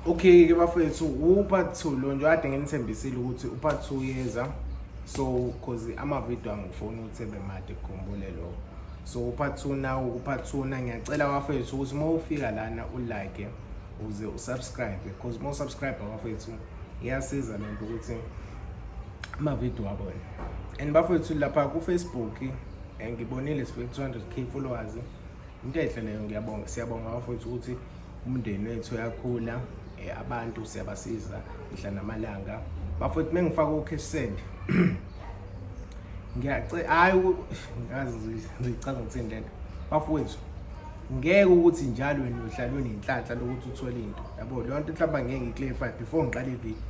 okay ke bafethu upart two lo nje kade nginithembisile ukuthi upart two yeza so cause amavidiyo angifuni ukuthi ebe made kukhumbule lokho so upart two nawo kupart two na ngiyacela bafethu ukuthi uma ufika lana ulike uze usubscribe because uma usubscribe bafethu iyasiza le nto ukuthi amavidiyo abone and bafethu lapha kufacebook ngibonile sifike 200 k followers into ehle leyo ngiyabonga siyabonga bafethu ukuthi umndeni wethu uyakhula eh, abantu siyabasiza mihla namalanga bafowethu uma ngifaka u-cash send ngiyace hayi ngazi ngicanga ukuthi indlela bafowethu ngeke ukuthi njalo wena uhlalwe nenhlanhla lokuthi uthole into yabo leyo nto mhlawumbe ngeke ngiclarify before ngiqale ivideo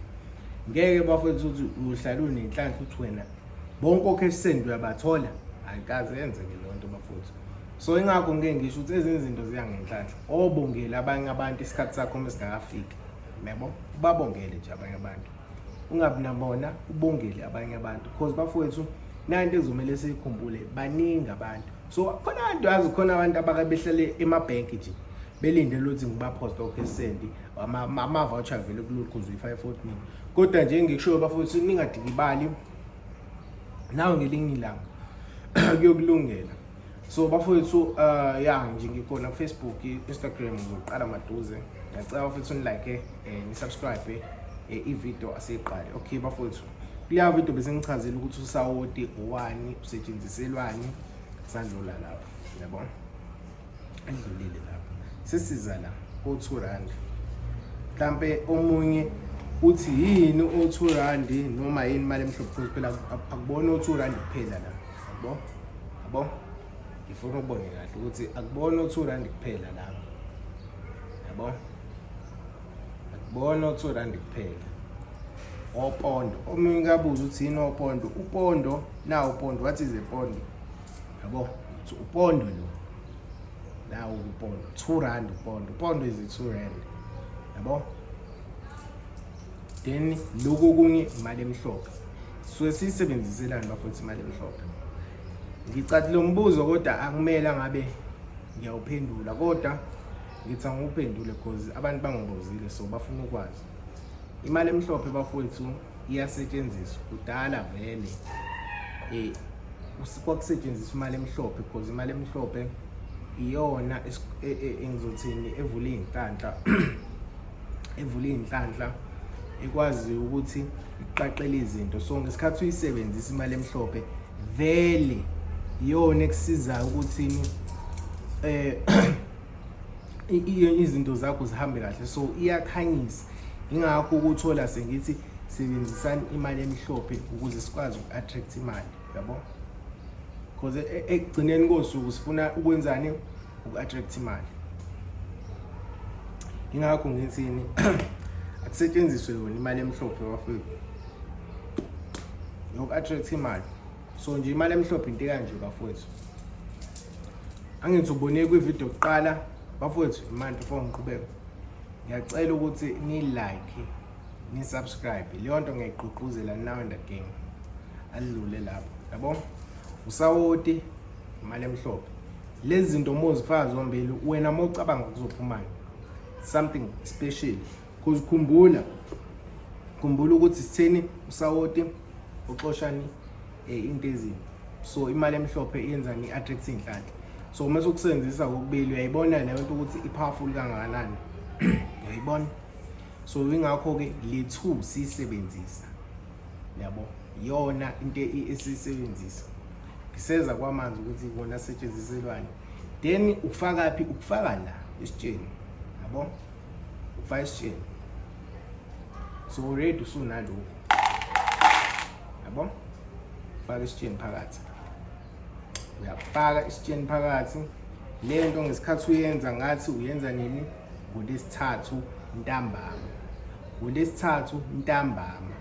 ngeke bafowethu ukuthi uhlalwe nenhlanhla ukuthi wena bonke okhe send uyabathola ayikaze yenzeke leyo nto bafowethu so ingakho ngike ngisho ukuthi ezinye izinto ziya ngenhlanhla obongele abanye abantu isikhathi sakho uma singakafiki yabo babongele nje abanye abantu ungabi nabona ubongele abanye abantu because bafowethu nanto ezomele siyikhumbule baningi abantu so khona abantu yazi khona abantu abake behlale emabhenki nje belindele ukuthi ngibaphosta okhesendi ama-voucher vele kulokhu uzoyi-five fortnini kodwa nje ngikushoyo bafowethu ningadikibali nawe ngelinye ilanga kuyokulungela so bafowethu uh, ya nje ngikhona kufacebook instagram ngiqala maduze ngiyacela bafowethu nilike eh, nisubscribe eh, ivideo asiyiqale okay bafowethu kuleya video bese ngichazile ukuthi usawoti owani usetshenziselwani sandlula lapho yabona Adlulile lapho. Sesiza la ko 2 rand. Mhlambe omunye uthi yini o 2 rand noma yini imali emhlophe phela akubona o 2 rand kuphela la. Yabo? Yabo? Ngifuna ukubone kahle ukuthi akubona o 2 rand kuphela la. Yabo? Akubona o 2 rand kuphela. opondo omunye kabuza uthini opondo upondo na upondo what is a pondo yabo ukuthi upondo lo nawo upondo 2 rand upondo upondo is 2 rand yabo then lokho kunye imali emhlophe so siyisebenziselani bafowethu imali emhlophe ngicatha lo mbuzo kodwa akumele ngabe ngiyawuphendula kodwa ngithi angiwuphendule because abantu bangibuzile so bafuna ukwazi imali emhlophe bafowethu iyasetshenziswa kudala vele eh kwakusetshenziswa imali emhlophe because imali emhlophe iyona e, e, engizothini evula izinhlanhla evula izinhlanhla ekwazi ukuthi iqaqele izinto so ngesikhathi uyisebenzisa imali emhlophe vele iyona ekusizayo ukuthi eh izinto zakho zihambe kahle so iyakhanyisa ingakho ukuthola sengithi sebenzisani imali emhlophe ukuze sikwazi uku-attract imali yabo because e, e, ekugcineni kosuku sifuna ukwenzani uku-attract imali ingakho ngithini akusetshenziswe yona imali emhlophe bafethu yoku-attract imali so nje imali emhlophe into kanje bafowethu angithi ubone kwivideo kuqala bafowethu manje before ngiqhubeka ngiyacela ukuthi ni like ni subscribe leyo nto ngiyayigqugquzela now and again adlule lapho yabo usawoti imali emhlophe lezi zinto mozifaka zombili wena mocabanga kuzophumani something special Cause khumbula khumbula ukuthi sitheni usawoti uxoshani eh, into ezini so imali emhlophe yenzani i-attract inhlanhla so uma sokusebenzisa kokubili uyayibona leyo nto ukuthi i-powerful kangakanani uyayibona so ingakho-ke le two siyisebenzisa yabo yona into esiyisebenzisa ngiseza kwamanzi ukuthi ikona asetshenziselwani then ufaka phi ukufaka la esitsheni yabo ufaka isitsheni so already usunalokhu yabo faka isitsheni phakathi uyafaka isitsheni phakathi le nto ngesikhathi uyenza ngathi uyenza nini ngolesithathu ntambama ngolesithathu ntambama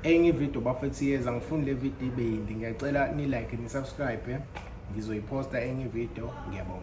enye ividiyo bafethu yeza ngifuni le vidiyo ibe yindi ngiyacela ni-like ni-subscribe eh? ngizoyiposta enye ividiyo ngiyabonga